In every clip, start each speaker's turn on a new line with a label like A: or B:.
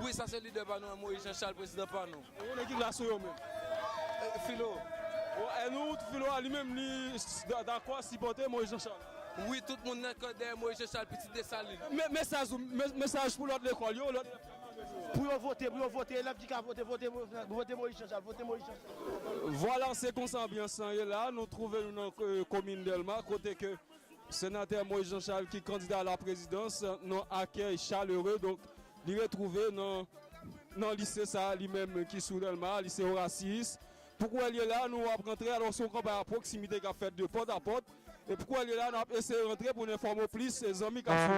A: Wi sa se lidè pa
B: nou an moyiz jan chal prezidan pa nou. E wou ekip la sou yo menm.
A: Filo.
B: E
A: nou wou filo a li menm li dakò sipòte moyiz jan chal. Wi tout moun nan
B: kò dèyè moyiz jan chal pitit desalin. Mesaj ou
A: mesaj pou lòt lekòl yo lòt elèv. Pou
C: yo vote pou yo vote elèv ki ka vote vote vote moyiz jan chal vote moyiz jan chal. Vwala se konsa
A: anbyans lan ye la nou twouve nou nan komin dèlma kote ke Senatè Moïse Jean Charles ki kandida a la prezidans nan akèy chalere donk li retwouve nan nan lise sa a li menm ki sou Dèlma a, lise Orasiyis. Pou kouwèl ye la a nou ap rantre alò se yon kanpay a pwoksimite k ap fèt de pòt a pòt e pou kouwèl ye la a n ap eseye rantre pou n enfòme w plis zanmi k ap swiv.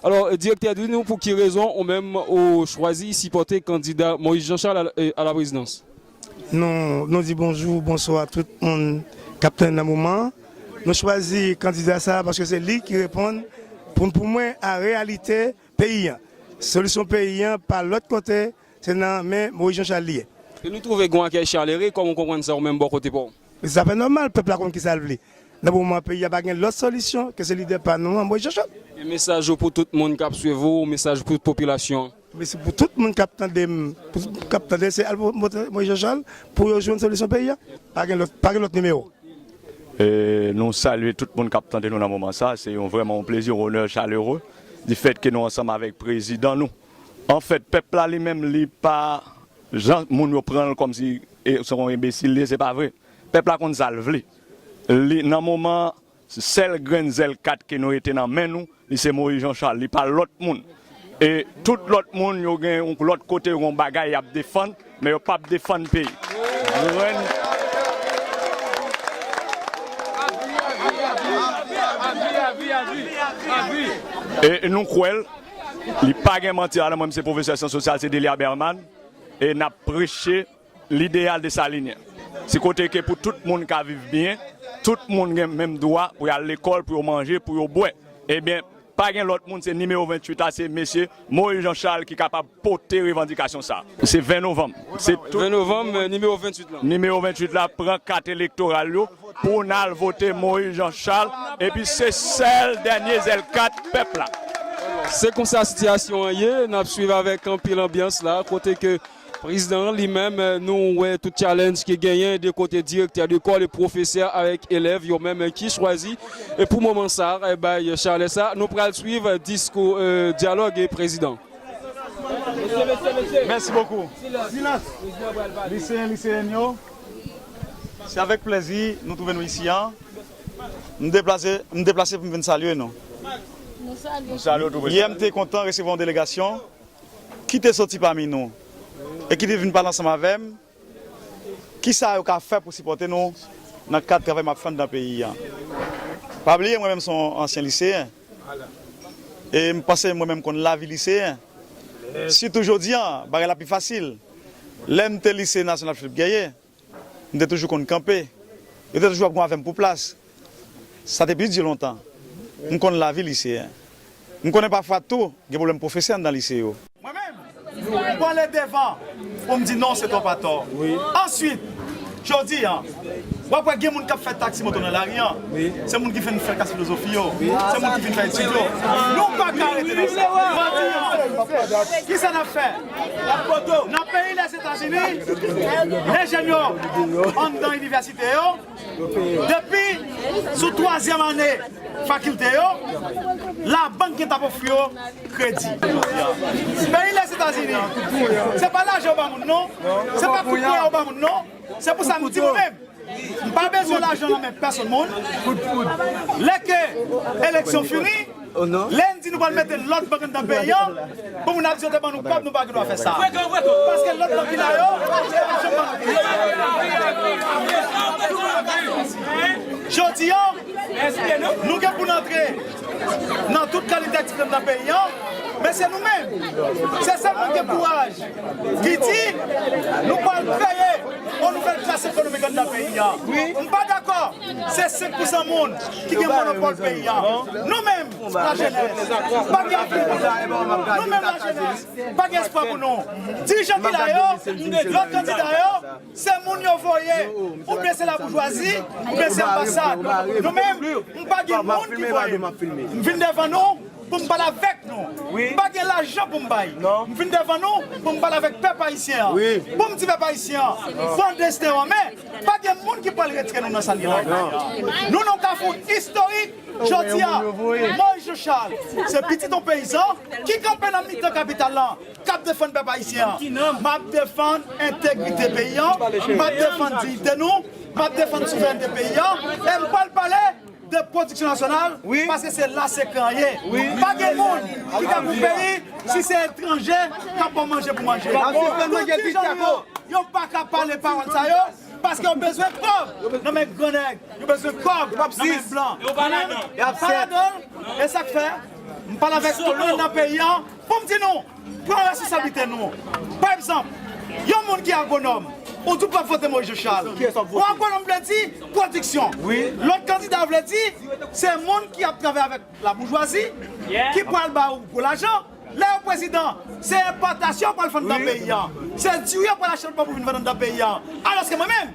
A: Alò, Direktè di nou pou ki rezon ou menm ou chwazi sipòte kandida Moïse Jean Charles a la prezidans? Nou
D: nou di bonjou, bonswa tout moun k ap tann nan moman an. Nou chwazi kandida sa a paske se li ki reponn pou pou mwen a reyalite peyi an. Solisyon peyi an pa lòt kote se nan men Moïse Jean Charles li ye. E nou twouve gen yon akèy
A: chalere, kòman ou konprann sa ou menm bò kote pa w? Se zafè nòmal, pèp
D: la konn kisa l vle. Nan moman an peyi a pa gen lòt solisyon ke se lidè pa nou an, Moyiz Jòjòb. E mesaj ou pou
A: tout moun kap swiv ou, mesaj pou tout popilasyon an? Mesaj pou tout moun
D: kap tande m, kap tande se al vote Moyiz Jòjòl pou yo jwenn solisyon peyi a. Pa gen lòt, pa gen lòt nimewo.
E: Nou salye tout moun kap tande nou nan moman sa. Se yon vrèman yon plezi, yon onè chalere di fèt ke nou ansanm avèk prezidan nou. Anfèt, pèp la li menm li pa. Jan moun yo pranl komsi se yon enbesil li ye se pa vre pèp la konn sal vle li nan moman sèl grenn zèl kat ke nou rete nan men nou li se Moïse Jean Charles li pa lòt moun e tout lòt moun yo gen yon lòt kote yon bagay yap defann men yo pap defann peyi nou kwèl. Li pa gen manti la nan mwen m se pwofesè syans sosyal se Delia Berman e nap preche lideyal desalinyen se kote ke pou tout moun ka viv byen tout moun gen menm dwa pou yal lekòl pou yo manje pou yo bwè ebyen pa gen lòt moun se nimewo 28 la se mesye Moïse Jean Charles ki kapab pote revandikasyon sa se 20 novanm se tout
A: moun nimewo 28 la pran
E: kat elektoral yo Pou nal vote Moïse Jean Charles epi se sèl dènye zèl kat pèp la. Se konsa
A: sitiyasyon an ye, nap swiv avèk anpil anbyans la kote ke Prezidan an li menm nou wè tout challenge ki genyen de kote direktè lekòl e pwofesè avèk elèv yo menm ki chwazi pou moman sa bay chalè sa. Nou pral swiv diskou dyalòg prezidan.
F: Mèsi bokou. Silans! Liseyen, liseyenn yo. Se avèk plèzi nou twouve nou isi an. M deplase m deplase pou m vin salye nou. Nou salye w tou Prezidan. Yè m te kontan resevwa yon delegasyon ki te soti pami nou e ki te vin pale ansanm avè m ki sa yo ka fè pou sipòte nou nan kad travay m ap fè anndan peyi an. Pa bliye mwen menm se yon ansyen liseyen e m panse mwen menm konn lavi liseyen. Sitou jodi an bagay la pi fasil. Lè m te Lise Nasyonal Philippe Gueye, m te toujou konn kanpe. Yo te toujou ap gou avè m pou plas. Sa te pi di lontan. M konn lavi liseyen. M konnen pafwa tou gen pwoblèm pwofesè anndan lise yo. Mwen menm, m pwale devan pou m di non se twòp atò. Answit. Jodi an, wap wè gen moun kap fè taxi moto nan lari an, se moun ki fin fè klas filozofi yo, se moun ki fin fè etid yo. Nou pa ka rete nan sa. Jodi an, kisa nap fè? Nan peyi Lèzetazini, lè jèn yo anndan inivèsite yo, depi sou twazyèm ane, Fakilte yo, labank gen t ap ofri yo kredi. Peyi Lèzetazini, se pa lajan yo ba moun non, se pa kout pwen yo ba moun non, se pou sa m di mwen menm, m pa bezwen lajan nan men pèsonn moun, lè ke eleksyon fini, lè n di nou pral mete lòd bank anndan peyi an, pou moun ap di yo te ban nou kòb nou pa gen dwa fè sa, paske lòt bank ki la yo pa janm ban nou kredi. Jodi an. Nou gen pou n antre nan tout kalite ekstrèm nan peyi an, men se nou menm, se sèl moun ki gen kouraj ki di nou pral kreye yon nouvèl klas ekonomik anndan peyi an. M pa dakò se 5 pousan moun ki gen monopòl peyi an. Nou menm lajenès pa gen anpil pou nou, nou menm lajenès pa gen espwa pou nou. Dirijan ki la yo, gran kandida yo, Se moun yo voye oubyen se laboujwazi oubyen se anbasad? Nou menm m pa gen moun ki voye m. M vin devan nou pou m pale avèk nou. M pa gen lajan pou m bay. M vin devan nou pou m pale avèk pèp ayisyen an. Pou m di pèp ayisyen an, pran desten w an men, pa gen moun ki pral retire nou nan sa n ye la kounye a. Nou nan yon kafou istorik jodi a. Moyiz Jechal se pitit yon peyizan ki kanpe nan mitan kapital lan. Kap defann pèp ayisyen an. Map defann entegrite peyi an, map defann diyite nou, map defann souverènte peyi an e m pral pale de pwodiksyon nasyonal paske se la sekrè an ye. Pa gen moun ki ka pou peyi si se etranje kap ba w manje pou manje. Tout ti jan nou yo, yo pa ka pale pawòl sa yo paske yo bezwen kòb nan men gran nèg, yo bezwen kòb nan men blan. Yo pa ladan l. E sak fè m pale avèk tout moun nan peyi an. Pou m di nou, pran responsablite nou. Pa egzanp, yon moun ki agwonòm, ou di w pa vote Moïse Jean-Charles. Bon agwonòm vle di pwodiksyon. Lòt kandida vle di se moun ki ap travay avèk laboujwazi, ki pral ba ou gwo lajan. Lè yo prezidan, se enpòtasyon yo pral vann nan peyi an. Se diri yo pral achte lòt bò pou vin vann anndan peyi an. Alòske mwen menm,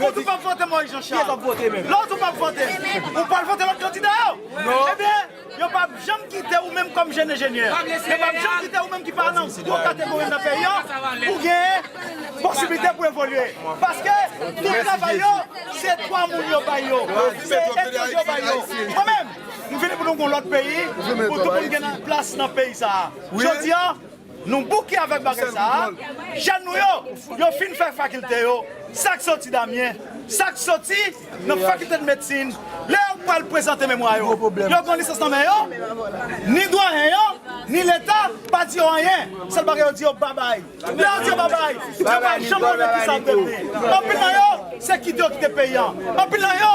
F: Ou di w pap vote Moïse Jean Charles. Lè w di w pap vote l, ou pral vote lòt kandida yo? Ebyen, yo pap janm kite ou menm kòm jèn enjenyè, yo pap janm kite ou menm ki pa nan gwo kategori nan peyi an pou genyen posiblite pou evolye. Paske tout travay yo, se 3 moun yo bay yo, se etranje yo bay yo. Mwen menm, m vini pou nou gen yon lòt peyi, pou tout moun gen plas nan peyi sa a. Jodi a. Nou bouke avèk bagay sa a, jèn nou yo, yo fin fè fakilte yo, sa k soti Damyen, sa k soti nan fakilte de medsin, lè yo pral prezante memwa yo, yo gen lisans nan men yo, ni dwayen yo, ni leta pa di yo anyen, sèl bagay yo di yo babay, lè yo di yo babay, yo pa janm konnen kisa yo devni, anpil nan yo se kite yo kite peyi an, anpil nan yo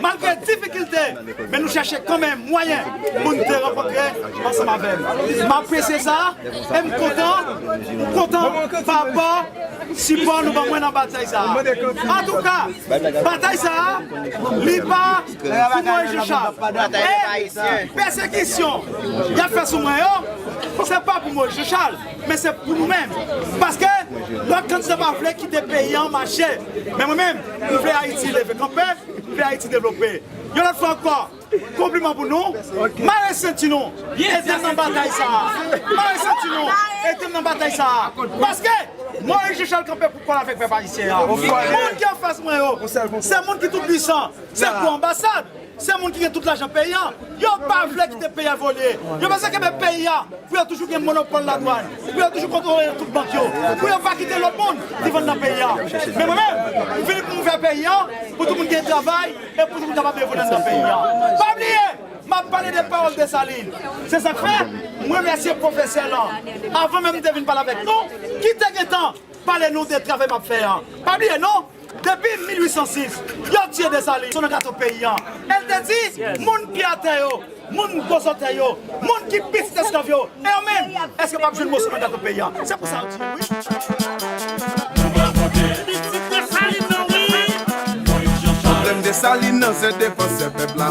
F: Malgre difikilte, men nou chèche kanmenm mwayen pou n te rankontre ansanm avè m. M apresye sa e m kontan m kontan pa rapò sipò nou ban mwen nan batay sa a. Antouka, batay sa a, li pa pou mwen Jean Charles. E pèsekisyon y ap fè sou mwen yo, se pa pou mwen Jean Charles. Men se pou nou menm. Paske lòt kandida pa vle kite peyi an mache. Men mwen menm, m vle Ayiti leve kanpe, m vle Ayiti devlope. Yon lòt fwa ankò, konpliman pou nou. Mare senti nou, ede m nan batay sa a. Mare senti nou, ede m nan batay sa a. Paske, Moyiz Jechal kanpe pou kòl avèk pèp ayisyen an. Moun ki anfas mwen yo, se moun ki toupwisan. Se gwo anbasad. Se moun ki gen tout lajan peyi an. Yo pa vle kite peyi a evolye. Yo bezwen kenbe peyi a pou yo toujou gen monopòl ladwann, pou yo toujou kontwole tout bank yo, pou yo pa kite lòt moun ki vann nan peyi a. Men mwen menm, m
G: vini pou m fè peyi a, pou tout moun gen travay e pou tout moun kapab evolye anndan peyi a. Pa bliye, m ap pale de pawòl Desalin. Se sa k fè, m remèsye pwofesè lan, avan menm m te vin pale avèk nou, ki te gen tan pale nou de travay m ap fè an. Pa bliye non! Depi 1806, yo tiye Desalin sou nan gato peyi an. El te di, moun pye a tè yo, moun gwo zotèy yo, moun ki pitit esklav yo, e yo menm, eske pap jwenn moso nan gato peyi an? Se pou sa yo tiye yo wi.
H: Pwoblèm Desalin nan se defansè pèp la.